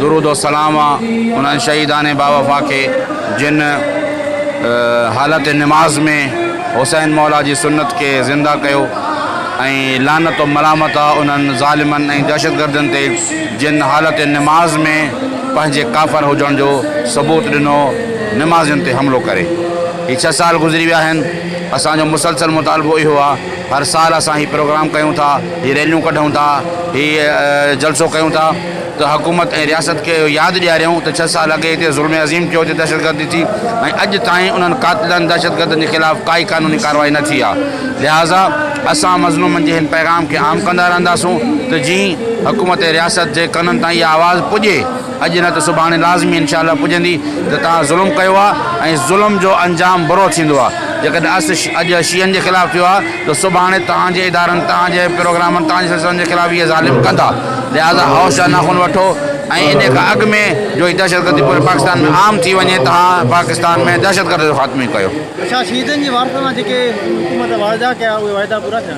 درود و سلام آ انهن شهيدان باوفا کي جن حالت نماز ۾ حسين مولا جي سنت کي زنده ڪيو ۽ لعنت و ملامت آ انهن ظالمن ۽ دهشتگردن تي جن حالت نماز ۾ پنهنجي ڪافر هجڻ جو ثبوت ڏنو نمازين تي حملو ڪري هي ڇهه سال گذري ويا آهن اسان جو مسلسل مطالبو اهو آ هر سال اسان هي پروگرام ڪيون ٿا، هي ريليون ڪڍون ٿا، هي جلسو ڪيون ٿا ته حڪومت ۽ رياست کي اهو ياد ڏياريون ته ڇهه سال اڳي هتي ظلم عظيم ٿيو، هتي دهشتگردي ٿي ۽ اڄ تائين انهن قاتلن دهشتگردن جي خلاف ڪائي قانوني ڪارروائي نه ٿي آ لهٰذا اسان مظلومن جي هن پيغام کي عام ڪندا رهنداسون ته جيئن حڪومت ۽ رياست جي ڪنن تائين اها آواز پڄي. اڄ نه ته سڀاڻي لازمي انشاء الله پڄندي ته توهان ظلم ڪيو آهي ۽ ظلم جو انجام برو ٿيندو آهي جيڪڏهن اس اڄ شيعن جي خلاف ٿيو آهي ته سڀاڻي توهان جي ادارن توهان جي پروگرامن توهان جي سلسلن جي خلاف اهي ظالم ڪندا لهذا هوش جا ناخن وٺو ۽ انهي کان اڳ ۾ جو هي دهشت گردي پوري پاڪستان ۾ عام ٿي وڃي توهان پاڪستان ۾ دهشت گرد جو خاتمو ئي ڪيو. ڇا شهيدن جي وارثن سان جيڪي حڪومت واعدا ڪيا اهي واعدا پورا ٿيا؟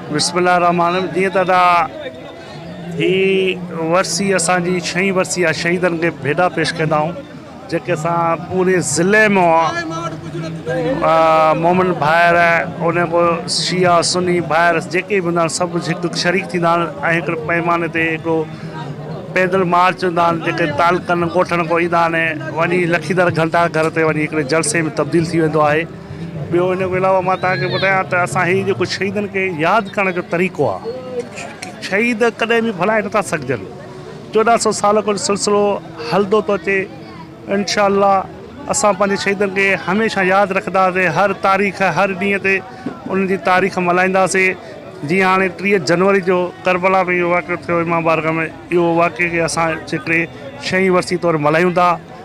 بسم الله الرحمٰن الرحيم جيئن ته ادا هي ورسي اسان جي ڇهين ورسي آهي شهيدن کي ڀيڏا پيش ڪندا آهيون جيڪي اسان پوري ضلعي ۾ مومن ڀائر ان کو شيعا سني ڀائر جيڪي به هوندا آهن سڀ هڪ شريڪ ٿيندا آهن ۽ هڪ پيماني تي هڪڙو پيدل مارچ هوندا آهن جيڪي تعلقن ڳوٺن کان ايندا آهن وڃي لکيندر گهنٽا گهر تي وڃي هڪڙي جلسي ۾ تبديل ٿي ويندو آهي ٻيو ان کان علاوه مان توهان کي ٻڌايان ته اسان هي جيڪو شهيدن کي ياد ڪرڻ جو طريقو آ شهيد ڪڏهن به ڀلائي نٿا سگهجن چوڏهن سو سال کان سلسلو هلندو ٿو اچي انشاء الله اسان پنهنجي شهيدن کي هميشه ياد رکنداسي هر تاريخ هر ڏينهن تي انهن جي تاريخ ملهائينداسي جيئن هاڻي ٽيهه جنوري جو ڪربلا ۾ اهو واقعو ٿيو امام بارگاهه ۾ اهو واقعي کي اسان جيڪڏهن شهيد ورسي طور ملهايون ٿا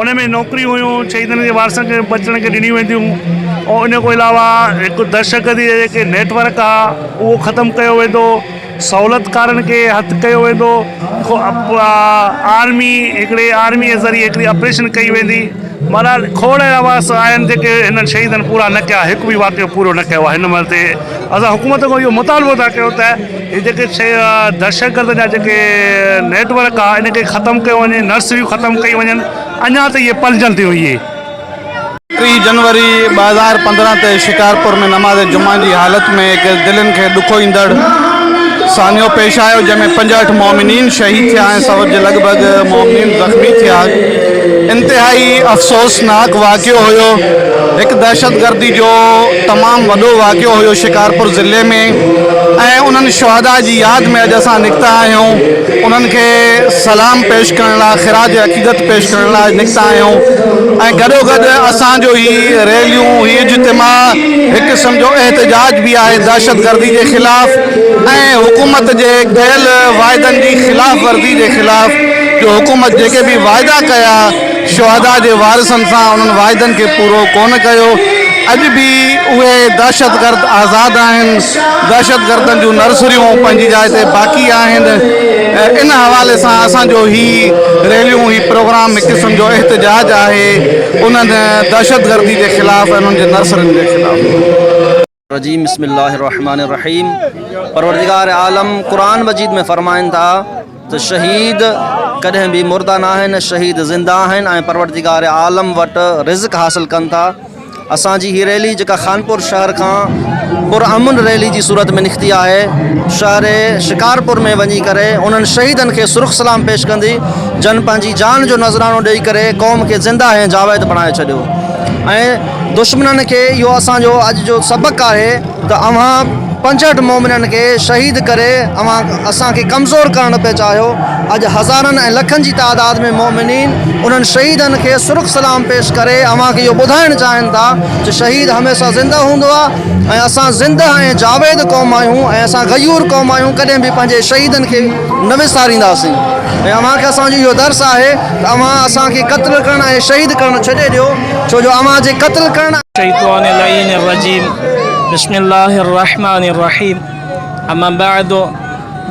ان ۾ نوڪريون هيون شهيدن جي وارثن کي بچڻ کي ڏنيون وينديون ۽ ان کان علاوه هڪ دهشتگردي جي جيڪي نيٽورڪ آ اهو ختم ڪيو ويندو سهولتڪارن کي هٿ ڪيو ويندو آرمي هڪڙي آرمي جي ذريعي هڪڙي اپريشن ڪئي ويندي بهرحال کوڙ اهڙا واس آهن جيڪي هنن شهيدن پورا نه ڪيا هڪ به واقعو پورو نه ڪيو آ هن مهل تي اسان حڪومت کان اهو مطالبو ٿا ڪيون ته هي جيڪي دهشتگرد جا جيڪي نيٽ ورڪ آ ان کي ختم ڪيو وڃي نرسريون ختم ڪيون وڃن اڃا ته اهي پلجن ٿيون اهي. ٽي جنوري ٻه هزار پندرهن تي شڪارپور ۾ نماز جمعه جي حالت ۾ هڪ دلين کي ڏکو ايندڙ سانحو پيش آيو جنهن ۾ پنجهٺ مؤمنين شهيد ٿيا ۽ سؤ جي لڳ ڀڳ مؤمنين زخمي ٿيا انتهائي افسوسناڪ واقعو هيو هڪ دهشتگردي جو تمام وڏو واقعو هيو شڪارپور ضلعي ۾ ۽ انهن شهداء جي ياد ۾ اڄ اسان نڪتا آهيون انهن کي سلام پيش ڪرڻ لاء خراج عقيدت پيش ڪرڻ لاء نڪتا آهيون ۽ گڏو گڏ اسان جو هي ريليون هي اجتماع هڪ قسم جو احتجاج به آهي دهشتگردي جي خلاف ۽ حڪومت جي ڪيل واعدن جي خلاف ورزي جي خلاف جو حڪومت جيڪي به واعدا ڪيا شهدا جي وارثن سان انهن واعدن کي پورو ڪونه ڪيو، اڄ به اهي دهشتگرد آزاد آهن، دهشتگردن جون نرسريون پنهنجي جاء تي باقي آهن، ان حوالي سان اسان جو هي ريليون هي پروگرام هڪ قسم جو احتجاج آهي انهن دهشتگردي جي خلاف انهن جي نرسرين جي خلاف. الرجيم بسم الله الرحمٰن الرحيم پروردگار عالم قرآن مجيد ۾ فرمائن ٿا ته شهيد ڪڏهن به مردا نه آهن شهيد زنده آهن ۽ پروردگار عالم وٽ رزق حاصل ڪن ٿا اسان جي هي ريلي جيڪا خانپور شهر کان پرامن ريلي جي صورت ۾ نڪتي آهي شهر شڪارپور ۾ وڃي ڪري انهن شهيدن کي سرخ سلام پيش ڪندي جن پنهنجي جان جو نذرانو ڏيئي ڪري قوم کي زنده ۽ جاويد بڻائي ڇڏيو ۽ دشمنن کي اهو اسان جو اڄ جو سبق آهي ته اوهان پنجهٺ مومنن کي شهيد ڪري اوهان اسان کي ڪمزور ڪرڻ پيا چاهيو اڄ هزارن ۽ لکن جي تعداد ۾ مومنين انهن شهيدن کي سرخ سلام پيش ڪري اوهان کي اهو ٻڌائڻ چاهين ٿا ته شهيد هميشه زنده هوندو آهي ۽ اسان زنده ۽ جاويد قوم آهيون ۽ اسان غيور قوم آهيون ڪڏهن به پنهنجي شهيدن کي نه وسارينداسين ۽ اوهان کي اسان جو اهو درس آهي ته اوهان اسان کي قتل ڪرڻ ۽ شهيد ڪرڻ ڇڏي ڏيو ڇو جو اوهان جي قتل ڪرڻ ۽. الشيطان اللعين الرجيم بسم الله الرحمٰن الرحيم اما بعد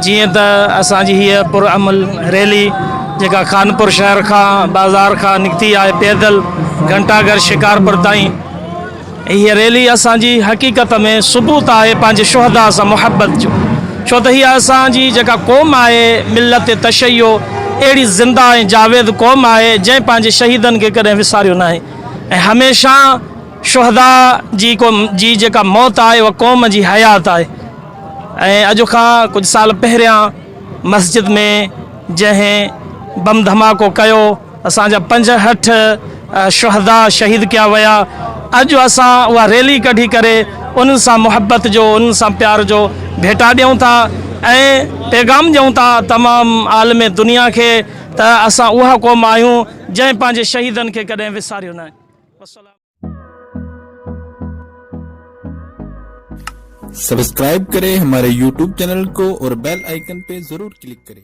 جيئن ته اسان جي هيء پر امل ريلي جيڪا خانپور شهر کان بازار کان نڪتي آهي پيدل گهنٽا گهر شڪارپور تائين هيء ريلي اسان جي حقيقت ۾ ثبوت آهي پنهنجي شهدا سان محبت جو ڇو ته هيء اسان جي جيڪا قوم آهي ملت تشيع اهڙي زنده ۽ جاويد قوم آهي جنهن پنهنجي شهيدن کي ڪڏهن وساريو ناهي ۽ هميشه شهدا جي جي جيڪا موت آهي اها قوم جي حيات آهي ۽ اڄ کان ڪجهه سال پهريان مسجد ۾ جنهن بم ڌماڪو ڪيو اسان جا پنجهٺ شهدا شهيد ڪيا ويا اڄ اسان اها ريلي ڪڍي ڪري انهن سان محبت جو انهن سان پيار جو ڀيٽا ڏيون ٿا ۽ پيغام ڏيون ٿا تمام عالم دنيا کي ته اسان اها قوم آهيون جنهن پنهنجي شهيدن کي ڪڏهن وساريو نه وسلام. سبسڪرائب ڪري هماري يوٽيوب چينل ڪو اور بيل آئيڪن پي ضرور ڪلڪ ڪري.